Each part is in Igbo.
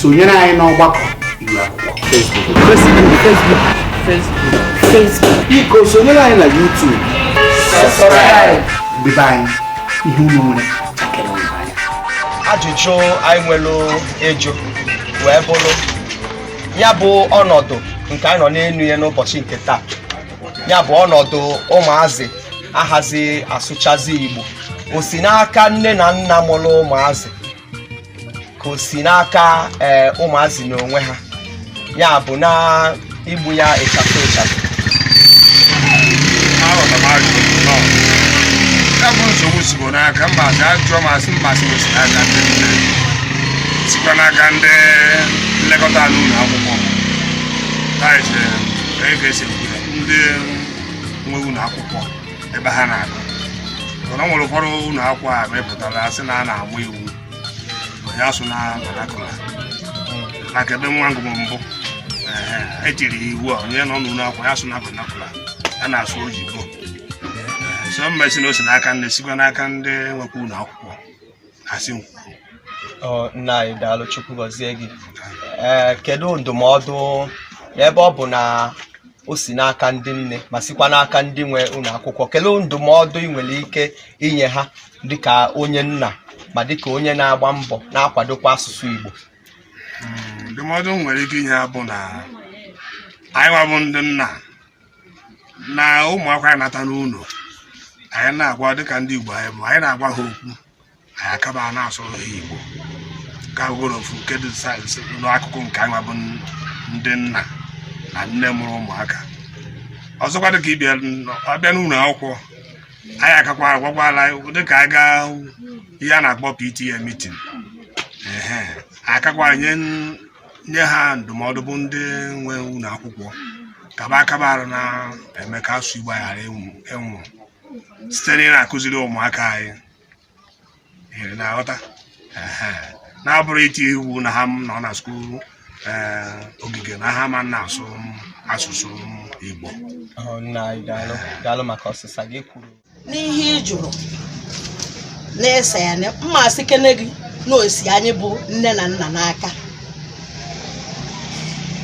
sonyere anyị n'ọgbakọ iru akwụkwọ biko sonyere anyị na YouTube debe anyị ihe unu nwere chakere unu anya ajụjụ anyị nwere ịjụ wee bụrụ ya bụ ọnọdụ nke anyị nọ n'elu ya n'ụbọchị nke taa ya bụ ọnọdụ ụmụazị ahazi asụchazi igbo o si n'aka nne na nna mụrụ ụmụazị ka o si n'aka ee ụmụazị n'onwe ha ya bụ na igbu ya ịchafụ ịchafụ aghọta m ajụjụ gị nọ ya bụ nsogbu sikwa n'aka mba asị ajụjụ m asị m ma-asị o si n'aka ndị nne sikwa n'aka ndị nlekọta ala ụlọ akwụkwọ that is ka e ga-esi ndị nwe ụlọ akwụkwọ ebe ha na-agụ mana ọ nwere ụfọdụ ụlọ akwụkwọ a mepụtara asị na a na-ama iwu onye asụna vernacular maka ebe nwa m gụrụ mbụ ehe, e tiri ya iwu a onye nọ n'ụlọ akwụkwọ ya asụna vernacular ya na-asụ oyibo so m ma-asị na o si n'aka nne sikwa n'aka ndị nwekwa ụlọ akwụkwọ asị m Ọ, nna anyị daalụ chukwu gọzie gị ee kedu ndụmọdụ ebe ọ bụ na o si n'aka ndị nne ma sikwa n'aka ndị nwe ụlọ akwụkwọ kedu ndụmọdụ ị nwere ike inye ha dịka onye nna ma dịka onye na-agba mbọ na-akwadokwa asụsụ igbo ndụmọdụ m nwere ike inye ha bụ na anyị nwa bụ ndị nna na ụmụakwụkwọ anyị nata n'ụlọ anyị na-agwa dịka ndị Igbo anyị bụ anyị na-agwa ha okwu anyị akaba na-asụrụ ha Igbo ka bụgoro ofu nke dị n'akụkụ nke anyị bụ ndị nna na nne mụrụ ụmụaka ọzọkwa dịka ị bịa ọ bịa n'ụlọ akwụkwọ anyị akakwa agwagwala dịka anyị gaa ihe a na-akpọ PTA meeting akakwa nye nye ha ndụmọdụ bụ ndị nwe ụlọ akwụkwọ kaba akaba arụ na-eme ka asụ Igbo ghara ịnwụ site na ị na-akụziri ụmụaka anyị iri na-aghọta na ọ bụrọ iti iwu na ha nọ na school eh, ogige na ha ma na-asụ asụsụ Igbo oh, n'ihe ị jụrụ na ịsa ya na m ma-asịkene gị na o si anyị bụ nne na nna n'aka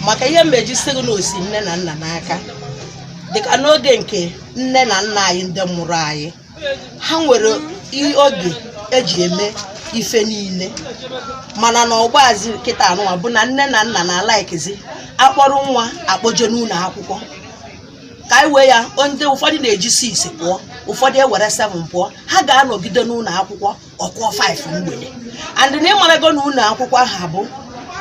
maka ihe m ji sị gị na o si nne na nna n'aka dịka n'oge nke nne na nna anyị ndị mụrụ anyị ha nwere i- oge e ji eme ife niile mana na ọgbazi kịta anụwa bụ na nne na nna na-alikezi akpọrọ nwa akpọje n'ụlọ akwụkwọ ka anyị wee ya ndị ụfọdụ na-eji six pụọ ụfọdụ ewere seven pụọ ha ga-anọgide n'ụlọ akwụkwọ ọ kụọ five mgbede and na ịmarago na ụlọ akwụkwọ aha bụ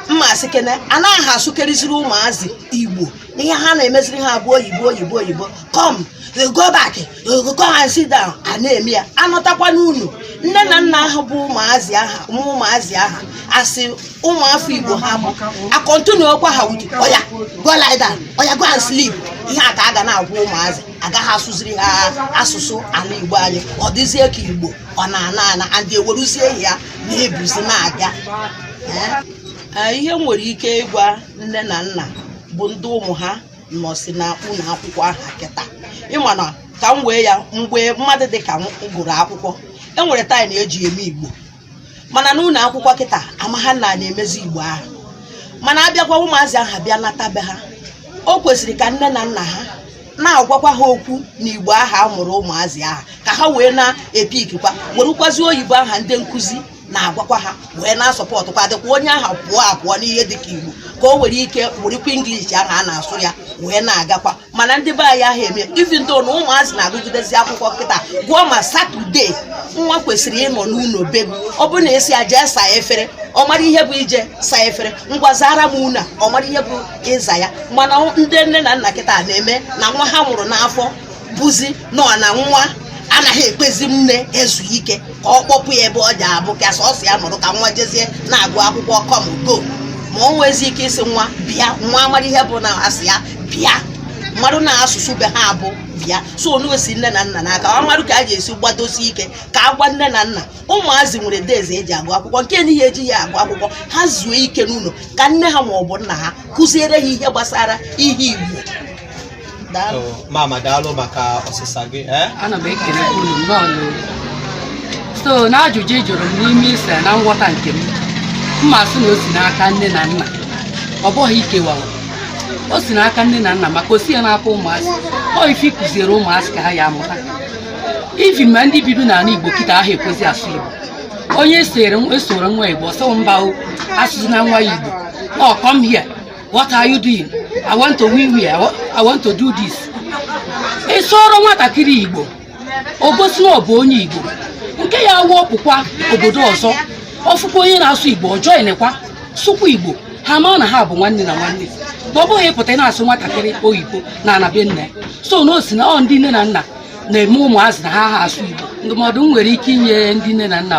m ma-asị kene anaha asụkeriziri ụmụazị igbo ihe ha na-emeziri ha bụ oyibo oyibo oyibo come you go back you go and sit down a na-eme ya anọtakwa n'ụlọ nne na nna aha bụ ụmụazị aha ụmụ ụmụazị aha asị ụmụ afọ igbo ha bụ a kọntinuo gwa ha wuji ọya go lie down ọya go and sleep ihe a ka a ga na-agwa ụmụazị agaha asụziri ha asụsụ ala igbo anyị ọ dịzie ka igbo ọ na-ana ana and eweruzie ya na-ebuzi na-aga Ee, ihe m nwere ike ịgwa nne na nna bụ ndị ụmụ ha nọsi na ụlọ akwụkwọ aha kịta ịma na ka m wee ya mgbe mmadụ dị ka m gụrụ akwụkwọ e nwere time eji eme igbo mana n'ụlọ akwụkwọ kịta amaha na a na-emezi igbo aha mana abịakwa ụmụazị aha bịa nata be ha o kwesịrị ka nne na nna ha na-agwakwa ha okwu na igbo aha a mụrụ ụmụazị aha ka ha wee na-epikikwa werụkwazi oyibo aha ndị nkụzi na-agwakwa ha wee na-asọpọtụkwa dịkwa onye aha pụọ apụọ n'ihe dịka igbo ka o nwere ike werikwa english aha a na-asụ ya wee na-agakwa mana ndị be anyị aha eme even though na ụmụazị na-agụgidezi akwụkwọ kịta gụọ ma saturday nwa kwesịrị ịnọ n'ụlọ be m ọ bụrụ na a sị ya jee saa efere ọ mara ihe bụ ije saa efere ngwa zaara m ụnọ ọ mara ihe bụ ịza ya mana ndị nne na nna kịta na-eme na nwa ha mụrụ n'afọ bụzi nnọọ na nwa anaha ekwezi nne ezu ike ka ọ kpọpụ ya ebe ọ ja-abụ ka sọsọ ya nọrọ ka nwa jezie na-agụ akwụkwọ come go ma o nwezi ike ịsị nwa bịa nwa amara ihe bụ na asị ya bịa marụ na asụsụ be ha bụ bịa so ọ na-esi nne na nna n'aka ọ marụ ka a ga-esi gbadosi ike ka a gwa nne na nna ụmụazị nwere days eji agụ akwụkwọ nke anaha eji ya agụ akwụkwọ ha zuo ike n'ụlọ ka nne ha ma ọ bụ nna ha kụziere ha ihe gbasara ihe igbo Daalụ. Oh, mama daalụ maka ọsịsa gị eh? ana m ekele unu nnọọ n'olu so n'ajụjụ ị jụrụ m n'ime ise na nghọta nke m m ma-asị na o si n'aka nne na nna ọ bụghị ikewawa o si n'aka nne na nna maka o siha n'aka ụmụazị ọ ife a kụziere ụmụazị ka ha ya amụta even ma ndị bido n'ala igbo kịta aha ekwezi asụ igbo onye ị sụọrọ nwa igbo ọ sị oh mba o asụzina nwa ya igbo ọ come here what are you doing i want to wee wee i want to do this ị sụọrọ nwatakịrị igbo o gosi na ọ bụ onye igbo nke ya wụ ọ pụkwa obodo ọzọ ọ fụkwa onye na-asụ igbo ọ joinekwa sụkwa igbo ha maa na ha bụ nwanne na nwanne ma ọ bụghị ịpụta na-asụ nwatakịrị oyibo n'ana be nna so na o si na ọ ndị nne na nna na-eme ụmụazị na ha aha asụ igbo ndụmọdụ m nwere ike inye ndị nne na nna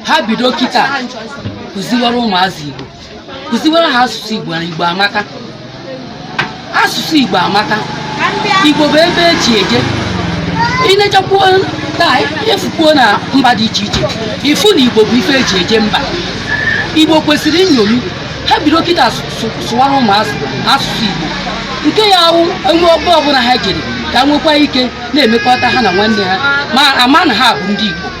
ha bido kịta kụziwara ụmụazị Igbo kụziwara ha asụsụ Igbo na Igbo amaka asụsụ Igbo amaka Igbo bụ ife eji eje i nechakwuo taa i fukwuo na mba dị iche iche i fu na Igbo bụ ife eji eje mba Igbo kwesịrị nṅomi ha bido kịta sụwara ụmụazị asụsụ Igbo nke ya-awụ enwe ọgbọ ọbụla ha jere ka nwekwa ike na-emekọta ha na nwanne ha ma ama na ha bụ ndị Igbo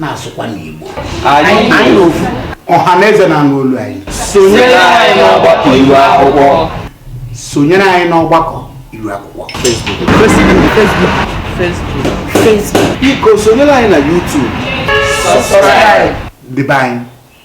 na-asụkwa n'Igbo anyị ofu ọha na eze na-anụ olu anyị sonyere anyị n'ọgbakọ iru akwụkwọ sonyere anyị n'ọgbakọ iru akwụkwọ biko sonyere anyị na YouTube ndị be anyị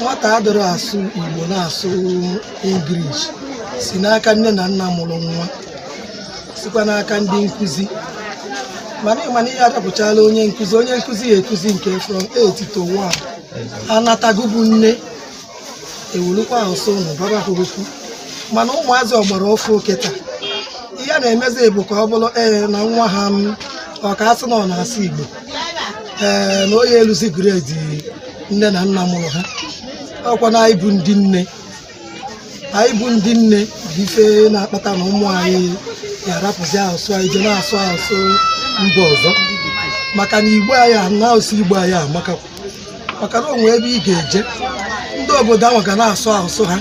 nwata adịrọ asụ igbo na-asụ English si n'aka nne na nna mụrụ nwa sikwa n'aka ndị nkụzi mana ị ma na ihe adapụchala onye nkụzi onye nkụzi ya-akụzi nke from 8 to 1 anatago bụ nne ewerukwa asụsụ ọnụ gwaba ha okwu mana ụmụazị ọgbara ọfụụ kịta ihe a na-emezi bụ ka ọ bụrụ ee na nwa ha m ọ ka a sị na ọ na-asụ igbo ee na onye eluzi grade nne na nna mụrụ ha ọkwa na anyị bụ ndị nne anyị bụ ndị nne bụ ife na-akpata na ụmụ anyị ga-arapụzi asụsụ anyị je na-asụ asụsụ mba ọzọ maka na igbo anyị a na asụsụ igbo anyị amaka maka na o nwe ebe ị ga-eje ndị obodo ahụ ga na-asụ asụsụ ha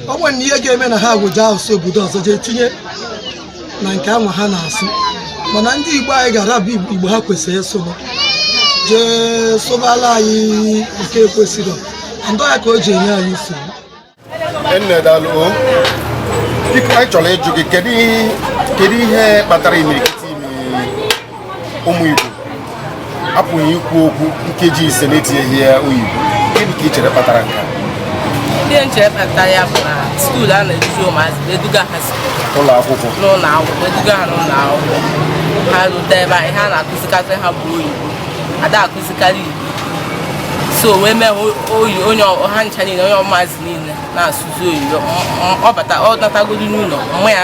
o nwere na ihe ga-eme na ha weje asụsụ obodo ọzọ jee tinye na nke anwa ha na-asụ mana ndị Igbo anyị ga-arapụ Igbo ha kwesịrị ịsụrụ jee sụbara anyị nke ekwesịrọ ndọ ya ka o ji enye anyị nsogbu anyị chọrọ ịjụ gị kedu ihe kpatara imirikiti ụmụ Igbo apụghị ikwu okwu nkeji ise na-etinyeghị ya oyibo gịnị ka ị chere kpatara nke a ihe m che kpata ya bụ na skuul a na-eduzi ụmụazị eduga ha ụlọ akwụkwọ n'ụlọ akwụkwọ eduga ha n'ụlọ akwụkwọ ha rute ebe ahụ ihe a na-akụzikarị ha bụ oyibo ada akụzikarị igbo so wee mee oyi onye ha ncha niile onye ụmụazị niile na-asụzi oyibo ọ bata ọ natagodu n'ụlọ mma ya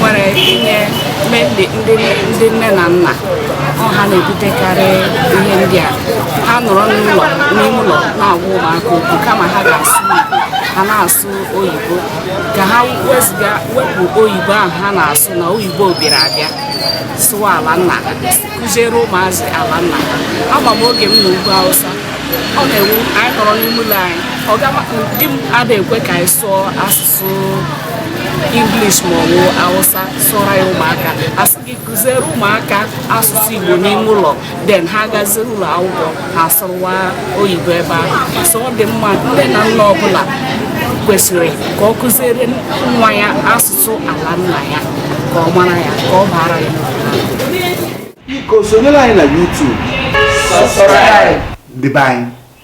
nwere inye ndị nne na nna ọ ha na-ebutekarị ihe ndị a ha nọrọ n'ụlọ n'ime ụlọ na-agwa ụmụaka okwu kama ha ga-asụ ha na-asụ oyibo ka ha wezụga wepụ oyibo ahụ ha na-asụ na oyibo bịara abịa sụọ ala nna ha kụziere ụmụazị ala nna ha ama m oge m nọ ugwu awụsa ọ na-awụ anyị nọrọ n'ime ụlọ anyị ọga di m ada ekwe ka anyị sụọ asụsụ na-asụ English ma ọ bụ Hausa sụra ya ụmụaka a sị gị kụziere ụmụaka asụsụ Igbo n'ime ụlọ then ha gazie ụlọ akwụkwọ ha sụrụwa oyibo ebe ahụ so ọ dị mma nne na nna ọbụla kwesịrị ka ọ kụziere nwa ya asụsụ ala nna ya ka ọ mara ya ka ọ baara ya biko sonyere anyị na YouTube ndị be anyị